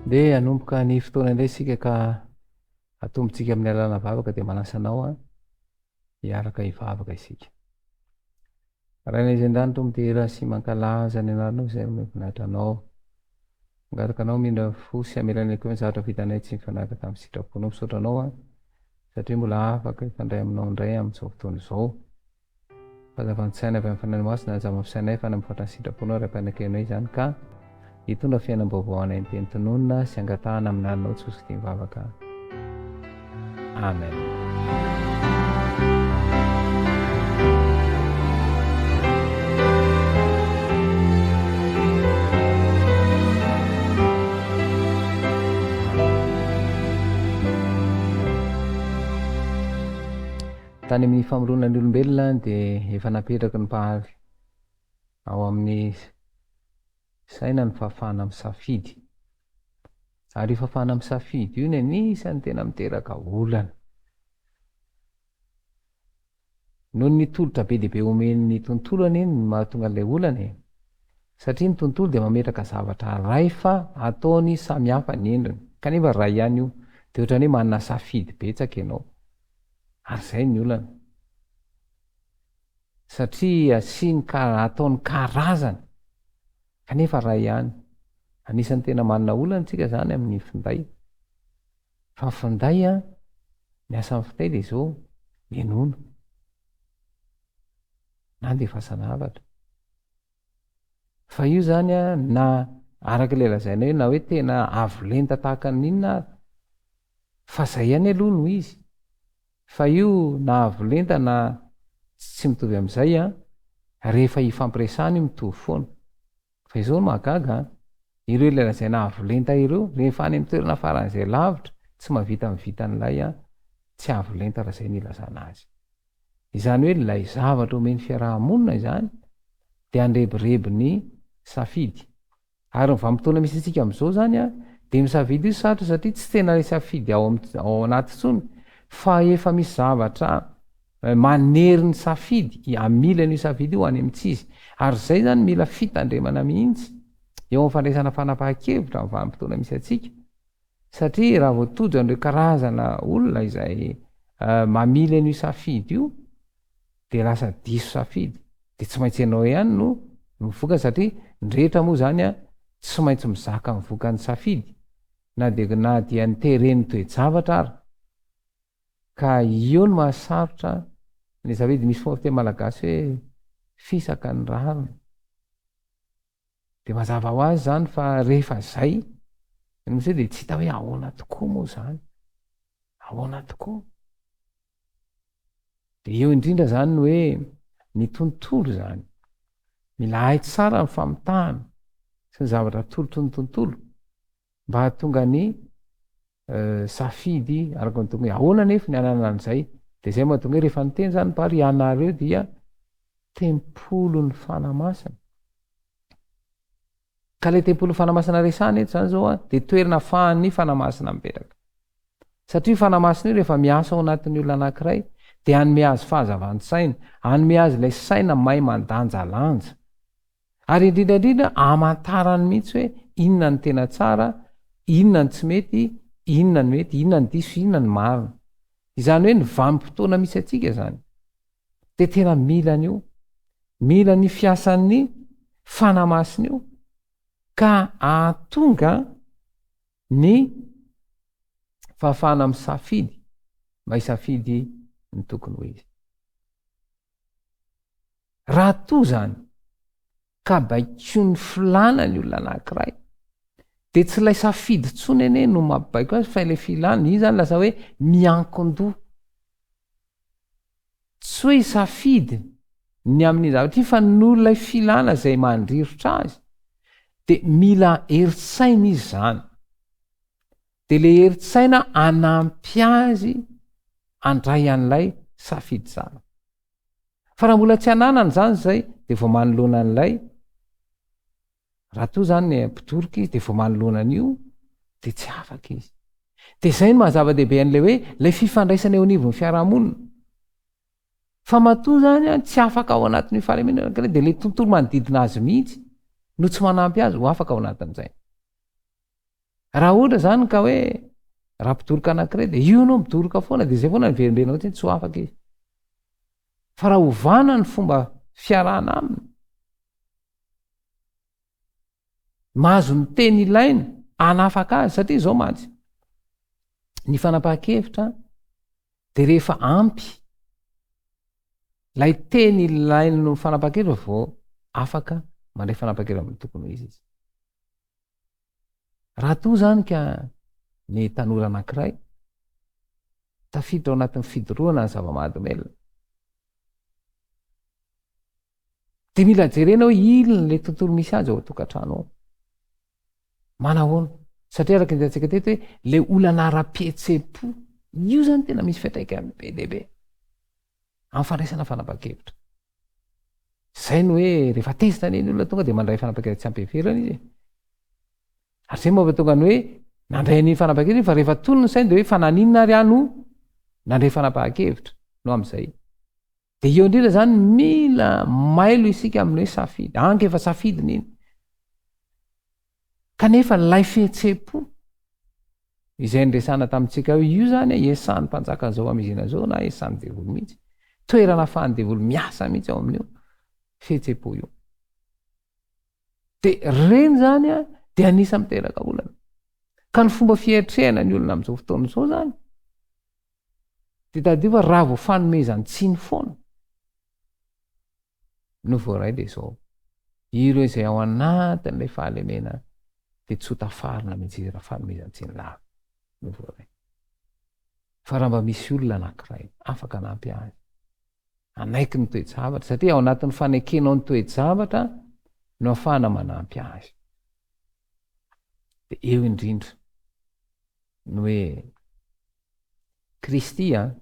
Dia hanomboka ny fotoana indray isika ka atombontsika amin'ny alàlana vavaka dia manasa anao hiaraka hivavaka isika. Ray Naizendanitra midera sy mankalaza ny Anarnao izay omeo voninahitra Anao. Mangataka Anao hamindra fo sy hamela ny akeo ny zavatra vitanay tsy mifanaraka tamin'ny sitraponao. Misaotra Anao aho satria mbola afaka hifandray aminao indray amin'izao fotoana izao. Fahazavan-tsaina avy amin'ny Fanahy Masina hanjama amin'ny sainay fa na mihoatra ny sitraponao Ray Mpanekena izany ka. hitondra fiainam-baovao hanenteny tononina sy hangatahana amin'ny laninao tsy ho zotiny vavaka. Amen. tany amin'ny famoloana ny olombelona dia efa napetraky ny mpahary Ao amin'ny saina ny fahafahana misafidy. Ary io fahafahana misafidy io no anisan'ny tena miteraka olana. Noho ny tolotra be dia be omen'ny tontolo anie no mahatonga an'ilay olana e. Satria ny tontolo dia mametraka zavatra iray fa ataony samy hafa ny endriny, kanefa iray ihany io. Dia ohatran'ny hoe manana safidy betsaka ianao. Ary izay ny olana. satria asiany ka ataony karazany kanefa ray ihany, anisan'ny tena manana olana tsika zany amin'ny finday fa finday a ny asan'ny finday de zao menono na andefasana havatra. Fa io zany a na araka ilay lazainao hoe na hoe tena avo lenta tahaka ny inona ary fa zay ihany aloha no izy fa io na avo lenta na tsy mitovy amin'izay a rehefa hifampiresahana io mitovy foana fa izao no mahagaga a ireo ilay lazaina avo lenta ireo rehefa any amin'ny toerana faran'izay lavitra tsy mahavita mivita an'ilay a tsy avo lenta raha zay no ilazana azy Izany hoe ilay zavatra omen'ny fiaraha-monina izany dia handrebireby ny safidy. Ary ny vanim-potoana misy antsika amin'izao izany dia misafidy io sarotra satria tsy tena ilay safidy ao ao anaty intsony fa efa misy zavatra eh, manery ny safidy hamily an'io safidy io any amintsy izy. Ary izay izany mila fitandremana mihitsy eo amin'ny fandraisana fanapahan-kevitra amin'ny vanim-potoana misy antsika Satria raha vao tojo an'ireo karazana olona izay mamily an'io safidy io dia lasa diso safidy, dia tsy maintsy ianao ihany no no vokany satria ny rehetra moa izany an tsy maintsy mizaka ny vokany safidy na dia na dia ny teren'ny toe-javatra ary ka io no mahasarotra ny safidy, misy foana fiteny malagasy hoe fisaka ny rariny. de mazava ho azy zany fa rehefa zay ny nosy de tsy hita hoe ahoana tokoa moa zany ahoana tokoa de eo indrindra zany ny hoe ny tontolo zany mila hay tsara ny famitahana sy ny zavatra atolotry ny tontolo mba hahatonga ny safidy araka ny tonga ahoana nefa ny anana an'izay de zay mahatonga hoe rehefa niteny zany par ianareo dia tempolin'ny fanamasina ka le tempolin'ny fanamasina resany eto zany zao a de toerana fahan'ny fanamasina mipetraka satria fanamasina io rehefa miasa ao anatin'ny olona anankiray de anome azy fahazavan-tsaina anome azy ilay saina may mandanjalanja Ary indrindra indrindra amantarany mihitsy hoe inona no tena tsara, inona no tsy mety, inona no mety, inona no diso, inona no marina. Izany hoe ny vanim-potoana misy antsika izany dia tena mila an'io, mila ny fiasan'ny fanahy masina io ka ahatonga ny fahafahana misafidy mba hisafidy ny tokony ho izy. Raha toa izany ka baikoin'ny filàna ny olona anankiray, dia tsy ilay safidy intsony anie no mabaiko azy fa ilay filàna, iny izany lasa hoe miankin-doha. Tsy hoe hisafidy ny amin'iny zavatra iny fa noho ilay filàna izay mandrirotra azy, dia mila herin-tsaina izy izany. Dia ilay herin-tsaina hanampy azy handray an'ilay safidy izany. Fa raha mbola tsy ananany izany izay, dia vao manoloana an'ilay, raha toa izany mpitoroka izy, dia vao manoloana an'io, dia tsy afaka izy. Dia izay no mahazava-dehibe an'ilay hoe, ilay fifandraisana eo anivon'ny fiarahamonina. Fa matoa izany tsy afaka ao anatin'io fahalemena anankiray, dia ilay tontolo manodidina azy mihitsy no tsy manampy azy ho afaka ao anatin'izay. Raha ohatra zany ka hoe raha mpidoroka anankiray dia io anao midoroka foana dia izay foana ny verimberina hoe tsy ho afaka izy. Fa raha ovana ny fomba fiarahana aminy, mahazo ny teny ilaina hanafaka azy satria izao mantsy ny fanapahan-kevitra dia rehefa ampy lay teny ilain'ny fanapahan-kevitra vao afaka mandray fanapahan-kevitra amin'ny tokony ho izy izy. Raha toa izany ka ny tanora anankiray tafiditra ao anatin'ny fidorohana ny zava-mahadomelina, dia mila jerena hoe inona ilay tontolo misy azy ao an-tokantrano ao. Manahoana? Satria araka ny hitantsika teto hoe ilay olana ara-pihetsem-po, io izany tena misy fiantraikany be dia be amin'ny fandraisana fanapahan-kevitra. Izay no hoe rehefa tezitra anie ny olona tonga dia mandray fanapaha-kevitra tsy ampy heverina izy. Ary izay moa tonga ny hoe nandray an'iny fanapaha-kevitra fa rehefa tony ny sainy dia hoe fa naninona ary aho no nandray fanapaha-kevitra no amin'izay. Dia eo indrindra izany mila mailo isika amin'ny hoe safidy. Anka efa safidiny iny. Kanefa ilay fihetsem-po izay niresahana tamintsika hoe io izany hiasan'ny mpanjaka izao hamizina izao na hiasan'ny devoly mihitsy, toerana ahafahan'ny devoly miasa mihitsy ao amin'io fihetsem-po io. Dia ireny izany dia anisan'ny miteraka olana. Ka ny fomba fiatrehana ny olona amin'izao fotoana izao izany Dia tadidio fa raha vao fanomezan-tsiny foana no voaray dia izao. Ireo izay ao anatin'ilay fahalemena dia tsy ho tafarina mihitsy izy raha fanomezan-tsiny lava no voaray. Fa raha mba misy olona anankiray afaka hanampy azy hanaiky ny toe-javatra, satria ao anatin'ny fanekenao ny toe-javatra no ahafahana manampy azy. Dia eo indrindra no hoe Kristy an!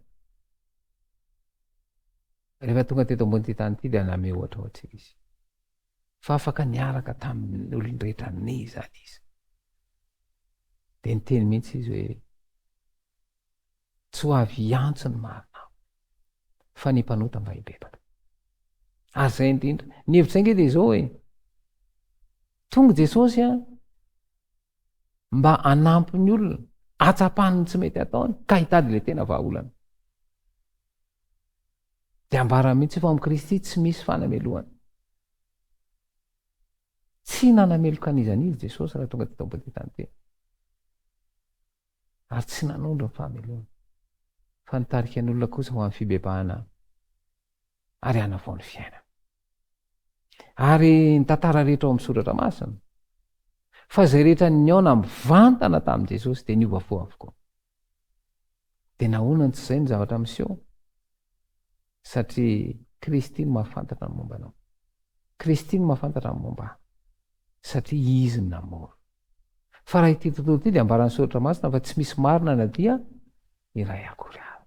Rehefa tonga teto ambonin'ity tany ity dia namehy ohatra ho antsika izy. Fa afaka niaraka tamin'ny olon-drehetra ny izany izy. Dia niteny mihitsy izy hoe tsy ho avy hiantso ny marina fa ny mpanota mba hibebaka. Ary izay indrindra. Ny hevitra inge dia izao hoe tonga Jesosy an, mba hanampy ny olona atsapany ny tsy mety ataony ka hitady le tena vahaolana de ambara mihitsy io fa amin'i kristy tsy misy fanamelohana tsy nanameloka anizany izy jesosy raha tonga teta body tany tena ary tsy nanondro ny fahamelohana fa nitarika ny olona kosa ho amin'ny fibebahana ary hanavao ny fiainana ary ny tantara rehetra ao amin'ny soratra masina fa izay rehetra niaona mivantana tamin'i jesosy dia niova fo avokoa dia nahona ny tsy izay ny zavatra miseho satria kristy no mahafantatra ny momba anao kristy no mahafantatra ny momba satria izy ny namoro fa raha ity tontolo ity dia ambaran'ny soratra masina fa tsy misy marina na dia iray akory ahy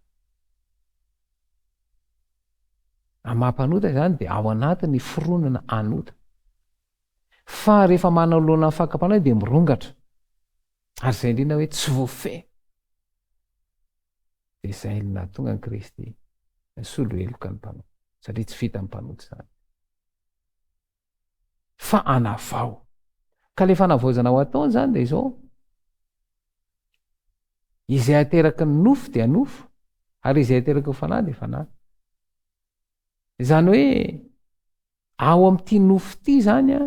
Raha maha mpanota izany dia ao anatin'ny fironana anota. Fa rehefa manoloana ny fakam-panahy dia mirongatra. Ary izay indrindra hoe tsy voafehy. Dia izay no nahatonga an'i Kristy nisolo heloka ny mpanota. Satria tsy vitan'ny mpanota izany. fa anavao ka le fanavaozana ho atao izany dia izao izay ateraky ny nofo dia nofo ary izay ateraky ny fanahy dia fanahy izany hoe ao amin'ity nofo ity izany a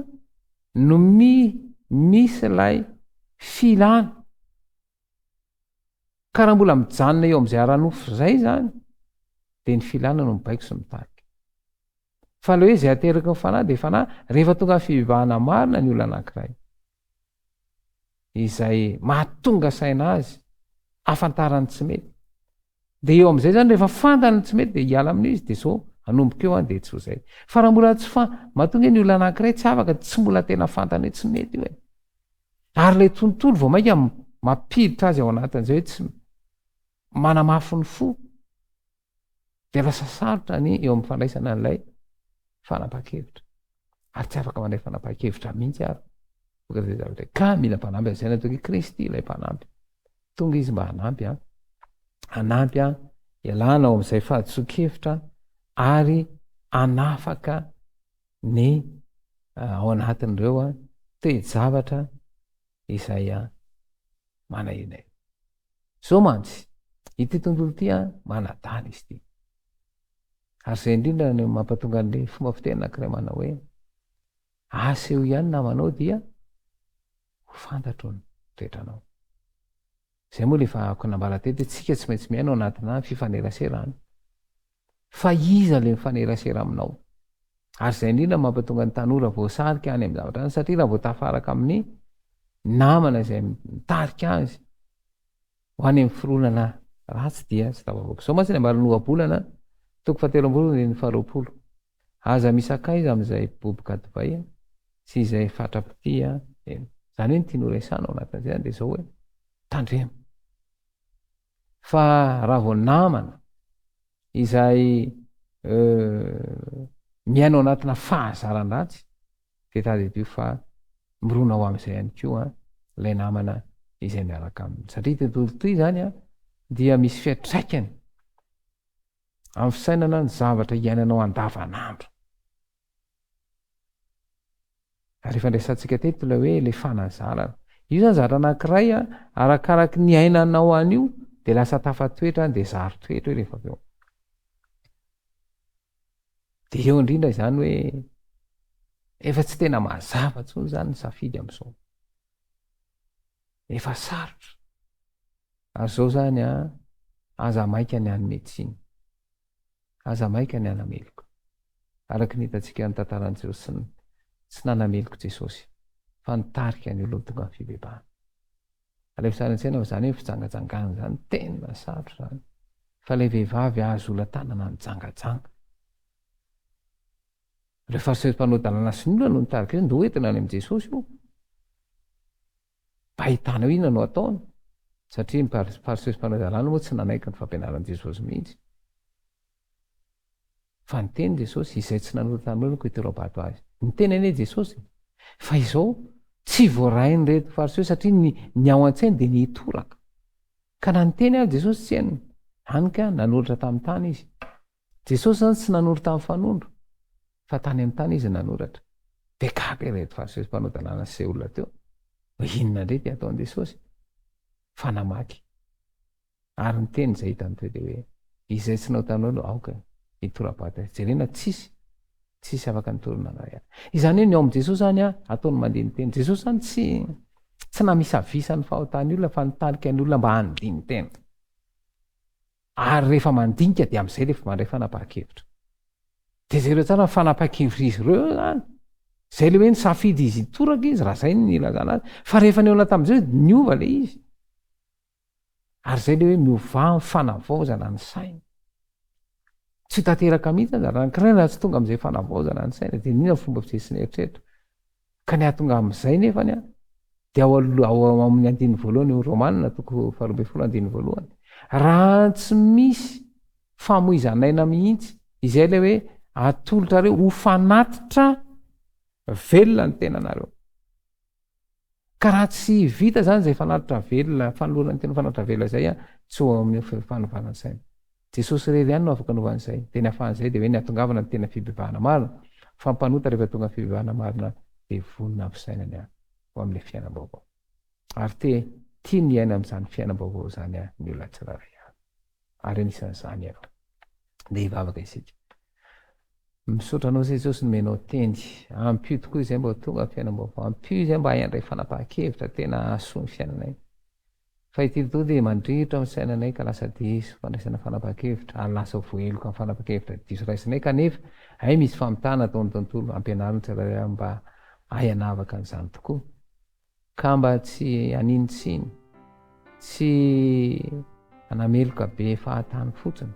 no mi misy ilay filana ka raha mbola mijanona eo amin'izay ara-nofo izay izany dia ny filana no mibaiko sy mitarika Fa ilay hoe izay ateraky ny fanahy dia fanahy rehefa tonga fivavahana marina ny olona anankiray. Izay mahatonga saina azy afantarany tsy mety. Dia eo amin'izay zany rehefa fantany tsy mety dia hiala amin'izy dia zao anomboka eo an dia tsy ho zay. Fa raha mbola tsy fa matonga ny olona anankiray tsy afaka tsy mbola tena fantany hoe tsy mety io e. Ary ilay tontolo vao mainka mampiditra azy ao anatin'izay hoe tsy manamafy ny fo. Dia lasa sarotra ny eo amin'ny fandraisana an'ilay fanapahan-kevitra. Ary tsy afaka mandray fanapahan-kevitra mihitsy ary. Ka mila mpanampy an'izay natoky i Kristy ilay mpanampy. Tonga izy mba hanampy an. Hanampy an, ialana ao amin'izay fahadisoan-kevitra ary anafaka ny ah, ao anatin'ireo toe-javatra izay an manahina eo zao mantsy ity tontolo ity an manadala izy ity ary izay indrindra ny mampatonga an'le fomba fiteny anankiray manao hoe aseho ihany namanao dia ho fantatro ny toetranao izay moa le efa ako nambara tety tsika tsy maintsy miaino anatina fifaneraserana Fa iza ilay mifanerasera aminao? Ary izay indrindra no mampatonga ny tanora voasarika any amin'ny zavatra any, satria raha vao tafaraka amin'ny namana izay mitarika azy ho any amin'ny fironana ratsy dia tsy tafavoaka. Izao mantsy ny ambaran'ny ohabolana toko fahatelo amby roapolo andininy faharoapolo. Aza misakaiza amin'izay boboka divay sy izay fatra-pitia eny. Izany hoe ny tiany horesahana ao anatin'izay izany dia izao hoe, tandremo. Fa raha vao namana izay miaina ao anatina fahazaran-dratsy dia tadidio fa mirona ho amin'izay ihany koa ilay namana izay miaraka aminy satria ity tontolo ity izany a dia misy fiatraikany amin'ny fisainana ny zavatra iainanao andavanandro Ary efa ndraisantsika teto ilay hoe ilay fanazarana. Io zany zavatra anankiray a, arakaraky ny ainanao an'io dia lasa tafatoetra any dia zary toetra io rehefa avy eo. Dia eo indrindra izany hoe efa tsy tena mazava intsony izany ny safidy amin'izao. Efa sarotra. Ary izao izany a, aza maika ny any médecine. Aza maika ny hanameloka. Araka ny hitantsika ny tantaran'i Josny, tsy nanameloka Jesosy, fa nitarika ny olona tonga amin'ny fibebahana. Alefa sary an-tsaina fa izany hoe fijangajangana izany, tena sarotra izany. Fa ilay vehivavy azo ola-tanana nijangajanga. Ireo Fariseo sy mpanao dalàna sinoa no nitarika hoe ndoa entina any amin'i Jesosy io. Ahitana hoe inona no ataony, satria ny Pariseos mpanao izay lalàna moa tsy nanaiky ny fampianaran'i Jesosy mihitsy. Fa niteny Jesosy, izay tsy nanota taminareo no koitero am-bato azy. Niteny anie Jesosy, fa izao tsy voarain'ireto Fariseo satria ny, ny ao an-tsainy dia ny hitoraka. Ka na niteny aza Jesosy tsy henony, hany ka nanolotra tamin'ny tany izy. Jesosy izany tsy nanoro tamin'ny fanondro fa tany amin'ny tany izy nanoratra. Dia gaga ireto fariseo sy mpanao dalàna sy izay olona teo hoe inona indray ity ataon'i Jesosy fa namaky ary niteny izay hitany teo dia hoe izay tsy naotanao no aoka hitorabato azy. Jerena tsisy tsisy afaka nitory na iray aza. Izany hoe ny ao amin'i Jesosy any ataony mandeha ny teny. Jesosy izany tsy tsy namisavisa ny fahotan'ny olona fa nitarika ny olona mba handihy ny teny. Ary rehefa mandinika dia amin'izay ilay vao mandray fanapahan-kevitra. Dia jereo tsara ny fanapahan-kevitr'izy ireo eo izany. Izay ilay hoe nisafidy izy hitoraka izy, raha izay ny ilazana azy. Fa rehefa nihaona tamin'i Jesoa dia niova ilay izy. Ary izay ilay hoe miovà amin'ny fanavaozana ny saina. Tsy ho tanteraka mihitsy aza raha ny kiraina raha tsy tonga amin'izay fanavaozana ny saina dia iniana ny fomba fijery sy ny eritreritra. Ka ny hahatonga amin'izay nefany an, dia ao ao amin'ny andininy voalohany ny Romanina toko faharoa ambin'ny folo andininy voalohany. Raha tsy misy famoizan'aina mihitsy, izay ilay hoe atolotrareo ho fanatitra velona ny tenanareo. Ka raha tsy vita izany izay fanatitra velona, fanolorana ny tena fanatitra velona izay an, tsy ao amin'ny fanovana saina. Jesosy irery ihany no afaka hanova an'izay. Dia ny ahafahan'izay dia hoe ny hahatongavana ny tena fibebahana marina, fa mpanota rehefa tonga ny fibebahana marina dia vonona hampisainany ahy ho amin'ilay fiainam-baovao. Ary te tia ny hiaina amin'izany fiainam-baovao izany aho ny olona tsirairay avy. Ary anisan'izany ianao. Dia hivavaka isika. Misaotra anao Jesosy nomenao teny. Ampio tokoa izay mba ho tonga ny fiainam-baovao. Ampio izay mba hay handray fanapahan-kevitra tena hahasoa ny fiainanay. Fa ity lotoa dia mandrirotra amin'ny sainanay ka lasa diso fandraisana fanapahan-kevitra, ary lasa ho voaheloka amin'ny fanapahan-kevitra diso raisinay kanefa hay misy famitana ataon'ny tontolo hampianarana ny tsirairay avy mba hahay hanavaka an'izany tokoa ka mba tsy haninontsiny sy hanameloka be fahatany fotsiny.